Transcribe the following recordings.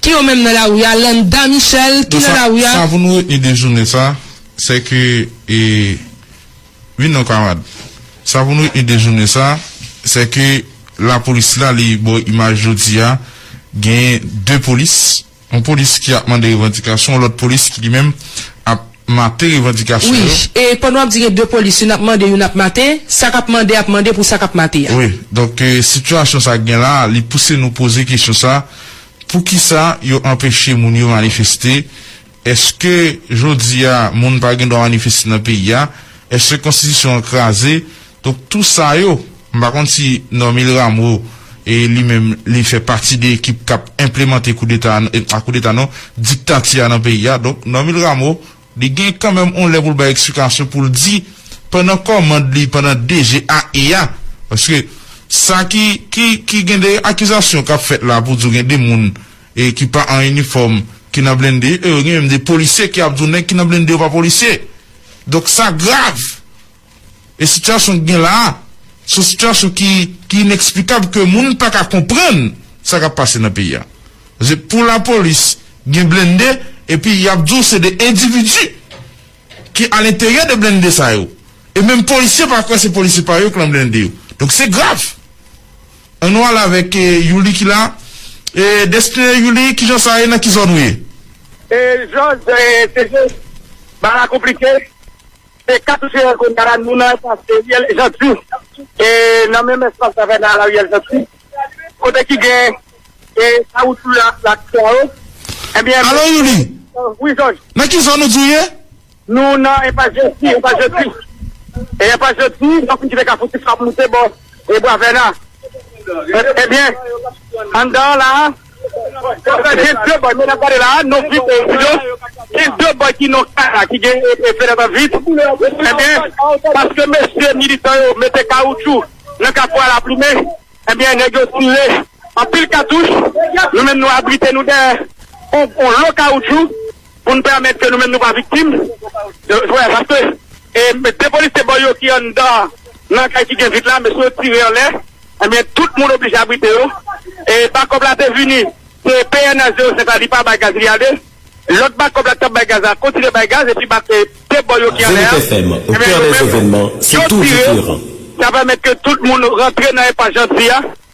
Ki yo menm nan lari a? Landa Michel, ki nan lari a? Sa pou nou retni de jounen sa, se ke e, vin non kamarad. Sa pou nou retni de jounen sa, se ke lapolis la li bo imaj jodi a, gen 2 polis, yon polis ki ap mande revandikasyon, yon lòt polis ki li menm ap. mate revandikasyon yo. Wi, e pandan w ap di gen 2 polis, youn ap mande, youn ap mate, sa k ap mande ap mande pou sa k ap mate a. Wi, donk sitiyasyon sa k gen la a, li pouse nou poze kesyon sa, poukisa yo anpeche moun yo manifeste? Èske jodi a moun pa gen dwa manifeste nan peyi a? Èske konstitisyon an kraze? Donk tou sa yo, m pa konn si Normil Rameau li menm li fè pati de ekip kap enplemante koudeta a, pa koudeta non, diktati a nan peyi a. Donk Normil Rameau li gen kanmenm on lè pou l bay eksplikasyon pou l di pandan kòmand li, pandan DG a e a, paske sa ki ki gen de akizasyon kap fèt la pou di w gen de moun e ki pa an inifòm ki nan blende e gen menm de polisye ki ap di w nèg ki nan blende yo pa polisye. Donk sa grav! E sitiyasyon ki gen la a, se yon sitiyasyon ki ineksplikab ke moun pa ka konprann sa k ap pase nan peyi a. Paske pou lapolis gen blennde epi y ap di w se de endividi ki alenteryè de blennde sa yo. E menm polisye pa kwè se polisye pa yo ki lan blennde yo. Donk se grav. An nou ale avèk Youli ki la. E Destiné, Youli, kijan sa ye? Nan ki zòn ou ye? E Jòj, se Barakou plis ke? Se 4 juillet kounya la nou nan espas Ariel Jeanty e nan menm espas la vè nan Ariel Jeanty kote ki gen e kawoutchou yo ak plak swa yo ebyen Alo Youri Wi Jòj Nan ki zòn ou di ou ye? Nou nan enpas Jeanty enpas Jeanty e enpas Jeanty lè fin kite kafou tifrap moute bò e bwa vèna ebyen anndan an la a. Konsa gen 2 boy menm ap gade la non vip e silans gen 2 boy ki non kay la ki gen fenèt an vit ebyen paske mesye militan yo mete kawoutchou nan kafou ala plumen ebyen nèg yo tire anpil katouch nou menm nou abrite nou dèyè on lo kawoutchou. pou n pèmèt ke nou menm nou pa viktim de vòlè paske e 2 polisye bò yo ki anndan nan kay ki gen vit la mesye yo tire anlè ebyen tout moun oblije abrite yo e bakòp la te vini se pnh 05 la li pa bay gaz li ale lòt bakòp la ki t ap bay gaz la kontinye bay gaz epi ba 2 bò yo ki anlè a ebyen yo menm yo tire sa pèmèt ke tout moun rantre nan enpas Janti a.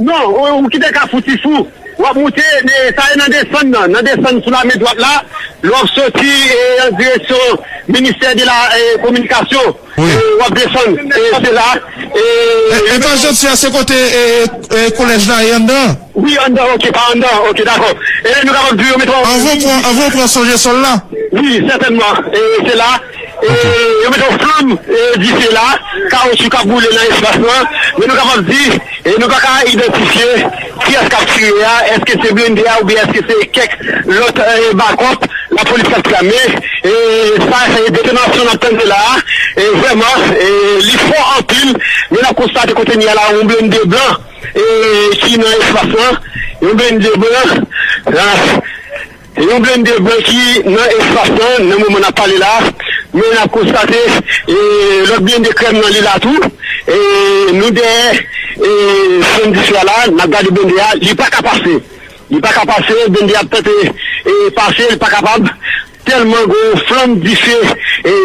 Non, ou kite kafou ti fou. Wap moute, sa e nan desann nan. Nan desann sou la men dwat la, lè wap soti an direksyon ministè de la kominikasyon, wap desann se la. Epa Janti a se kote kolèj la e anndan an? Wi anndan an, ok, pa anndan an, ok dakò. E nou kapab di yo met wap. Anvan ou pran sonjesòl la? Wi sètènman, se la. Yo mete yon flanm dife la, kawoutchou k ap boule nan espas lan, men nou kapab di nou pa ka idantifye kiyès k ap tire a, èske se blende a oubyen èske se kèk lòt bakòp lapolis k ap tire a. Men, sa detonasyon n ap tande la a, vrèman li fò anpil, men n ap konstate kounye a la yon blende blan ki nan espas lan, yon blende blan. Se yon blennde blan ki nan espas lan nan moman nap pale la, men nap konstate lòt blennde krèm nan li la tou, nou dèyè sèn diswa la nap gade blennde a li paka pase, li paka pase blennde a ap tante pase li pa kapab tèlman gen yon flanm dife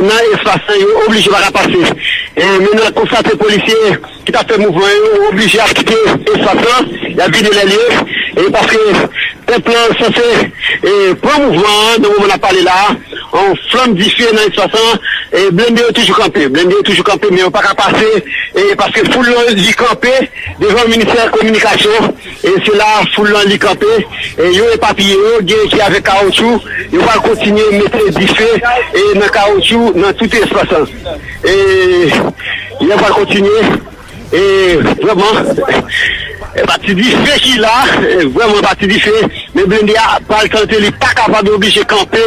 nan espas lan yo oblije paka pase men nap konstate polisye. ki t ap fè mouvman yo oblije ap kite espas lan, y ap vide lè l ye e paske pèp lan sanse pran mouvman an nan moman n ap pale la a, yon flanm dife nan espas lan, blende yo toujou kanpe, blende yo toujou kanpe men yo pa ka pase paske foul lan li kanpe devan ministè kominikasyon, se la foul lan li kanpe, yo epapiye yo, gen ki avèk kawotchou, yo pral kontinye mete dife nan kawotchou nan tout espas lan. E lè pral kontinye e vrèman e pa ti dife ki la vrèman pa ti dife men blende a pral tante li pa kapab yo blije kanpe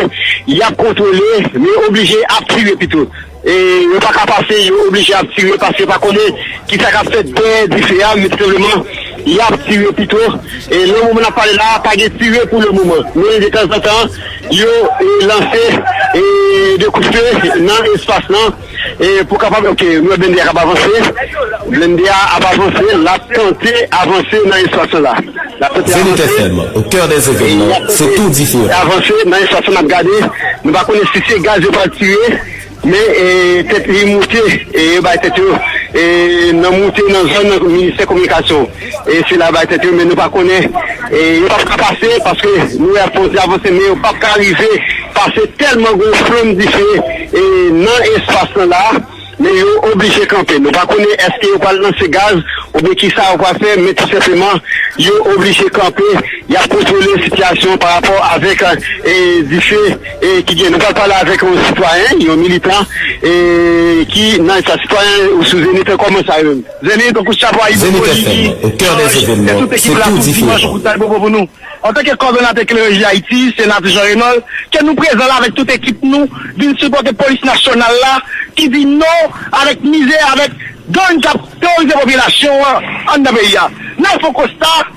yap kontwole men yo oblije ap tire pito e yo pa ka pase yo oblije ap tire paske pa konnen kisa kap fèt dèyè dife a men tousebleman yap tire pito e nan moman nap pale la pa gen tire pou le moman men detanzantan. Yo lanse 2 kout fe nan espas lan pou kapab ke nou wè blende a kap avanse, blende a ap avanse lap tante avanse nan espas lan la, lap tante avanse lap tante avanse nan espas lan nap gade nou pa konnen si se gaz yo pral tire. Men tèt li moute, yo bay tèt yo nan moute nan zòn nan ministè kominikasyon. Sila bay tèt yo men nou pa konnen, yo pap ka pase paske nou wè yap kontinye avanse men yo pap ka rive pase tèlman gen yon flanm dife nan espas lan la men yo oblije kanpe. Nou pa konnen èske yo pral lanse gaz oubyen kisa yo pral fè men tou senpleman yo oblije kanpe yap kontwole sitiyasyon parapò avèk dife. E ki gen nou pral pale avèk yon sitwayen, yon militan e ki nan espas sitwayen ou sou Zenith e kòman sa yo. Zenith tankou chapo Ayibopoli ki chanje tèt tout ekip la tout dimanch kout Ayibobo pou nou. Antanke kòdonatè Klèreji Ayiti, Senatè Jean Renold, ke nou prezan la avèk tout ekip nou vin sipòte polis nasyonal la ki di non avèk mizè avèk gang kap teworize popilasyon an anndan peyi a. Nan fon konsta.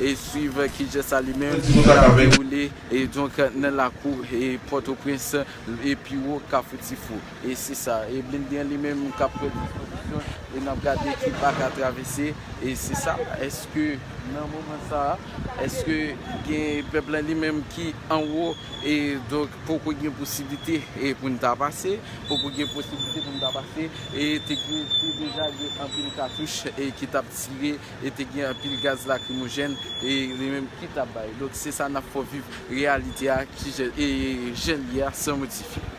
e swiv kijan sa li menm tap dewoule donk nan lakou pòtoprens e piwo kafou tifou e se sa e blinde an li menm kap pran dispozisyon e nap gade ki bak a travèse e se sa èske nan moman sa èske gen pèp la li menm ki anwo e donk poko gen posiblite e poun ta pase poko gen posiblite poun ta pase e te gen te deja gen anpil katouch e ki tap tire. e te gen anpil gaz lakrimojèn e li menm ki ta bay donk se sa nap fè w viv reyalite a ki jan e jan l ye a san modifye.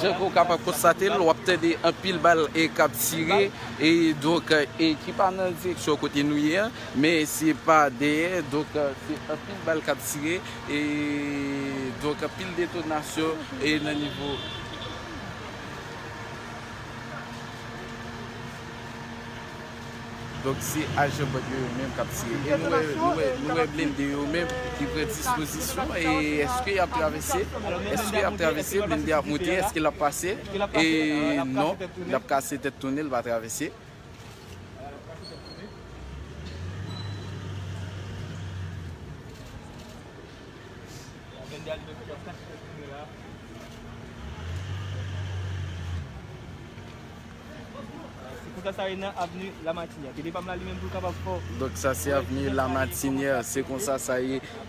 Jan ke w kapab konstate l, w ap tande anpil bal kap tire. E donk e ki pa nan direksyon kote nou ye an, men se pa dèyè, donk se anpil bal kap tire, e donk anpil detonasyon e nan nivo. Donk se ajan band yo yo menm kap tire. E nou wè nou wè nou wè blende yo menm ki pran dispozisyon e eske yap travèse, eske yap travèse blende ap monte eske lap pase e non. Lap kase tèt tounen l pa travèse. Donk sa se avni lamatinière.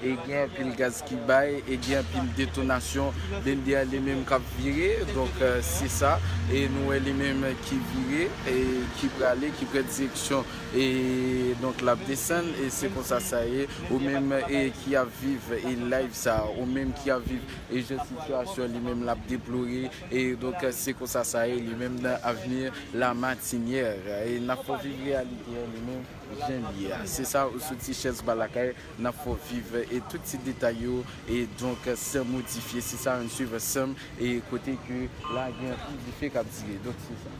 e gen anpil gaz ki bay e gen anpil detonasyon blende a li menm kap vire donk se sa e nou wè li menm ki vire e ki prale ki pran direksyon e donk lap desann e se konsa sa ye ou menm e ki ap viv e live sa ou menm ki ap viv e jan sitiyasyon li menm lap deplore e donk se konsa sa ye li menm nan avni la matinyè e nap fè w viv reyalite a li menm jan li ye a se sa ou soti chèz ba lakay. Nap fè w viv e tout ti detay yo e donk sèm modifye se sa ann swiv ansèm e kote ke la gen anpil dife kap dire donk se sa.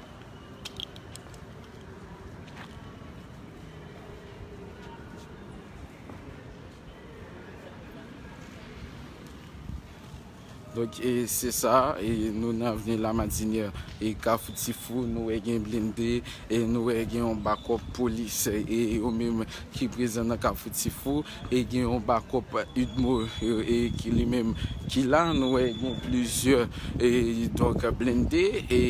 Donk e se sa, e nou nan veni la madinye, e kafou ti fou, nou e gen blinde, e nou e gen yon bakop polis, e yo menm ki prezan nan kafou ti fou, E gen yon bakòp udmo e ki li menm ki la nou wè gen plizyè e donk blende e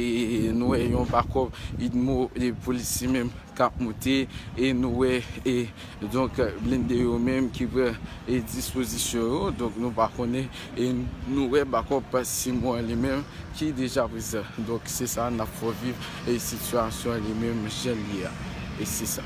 nou wè yon bakòp udmo e polisye menm kap moute e nou wè e donk blende yo menm ki pran e dispozisyon yo donk nou pa konnen E nou wè bakop Simon li menm ki deja prezan. Donk se sa nap fò viv e sitiyasyon li menm jan li ye a. E se sa.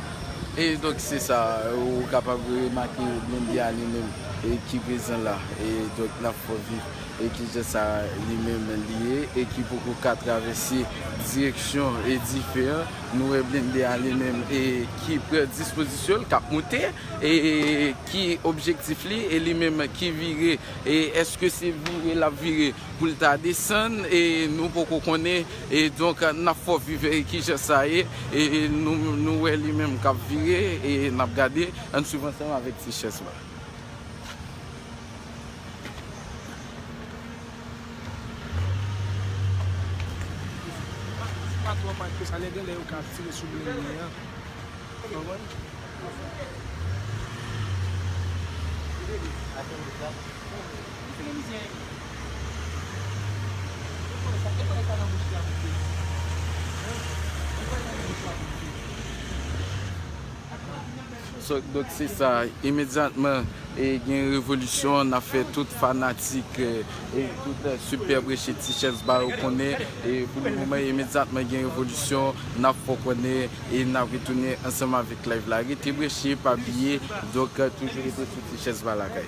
E donk se sa ou kapab remake Blondie a li menm e ki prezan la e donk nan fò viv e ki jan sa li menm li ye e ki poko ka travèse direksyon e dife an. Nou wè Blondie a li menm e ki pran dispozisyon l k ap moute e ki objektif li e li menm ki vire e èske se vire l ap vire pou l ta desann e nou poko konnen. E donk nap fò viv ki jès sa ye e nou wè li menm kap vire e nap gade ann swiv ansanm avèk ti chès la. Donk se sa, imedyatman gen yon revolisyon, n ap fè tout fanatik e tout sipè preche Tichèze ba yo konnen, e pou le moman imedyatman gen revolisyon, n ap fè w konnen e n ap retounen ansanm avèk layv la. Rete preche, pa bliye, donk toujou rete sou Tichèze ba lakay.